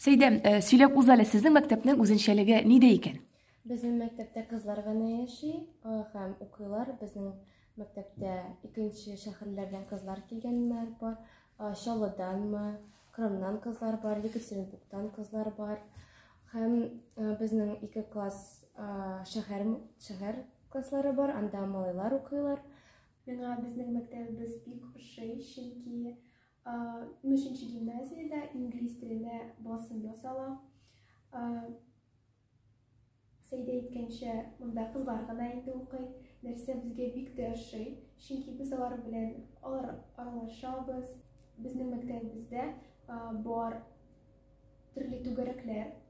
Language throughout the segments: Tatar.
Сәйдә, сөйләп уз әле, сезнең мәктәпнең үзенчәлеге нидә икән? Безнең мәктәптә кызлар гына яши һәм укыйлар. Безнең мәктәптә икенче шәһәрләрдән кызлар килгәннәр бар. Чаллыданмы, Крымнан кызлар бар, Екатеринбургтан кызлар бар. Һәм безнең ике класс шәһәр шәһәр класслары бар, анда малайлар укыйлар. Миңа безнең мәктәбебез бик ошый, чөнки Нөченче гимназиядә инглиз теленә басым ясала. Сәйдә әйткәнчә, монда кызлар гына инде укый. Нәрсә безгә бик тә ошый, чөнки без алар белән алар аралашабыз. Безнең мәктәбебездә бар төрле түгәрәкләр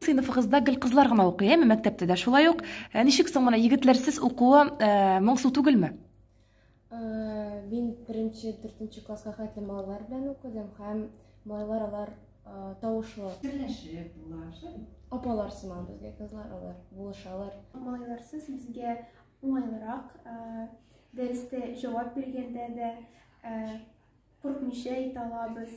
Сыйныфыгызда гел кызлар гына укый, әме мәктәптә дә шулай ук. Ә ничек соң моны егетләрсез укуы моңсу түгелме? Мин беренче, дүртенче класска хәтле малайлар белән укыдым һәм малайлар алар тавышлы. Серләшеп була, шулай. Апалар сыман безгә кызлар алар булышалар. Малайларсыз безгә уңайлырак, дәрестә җавап биргәндә дә куркмыйча әйтә алабыз.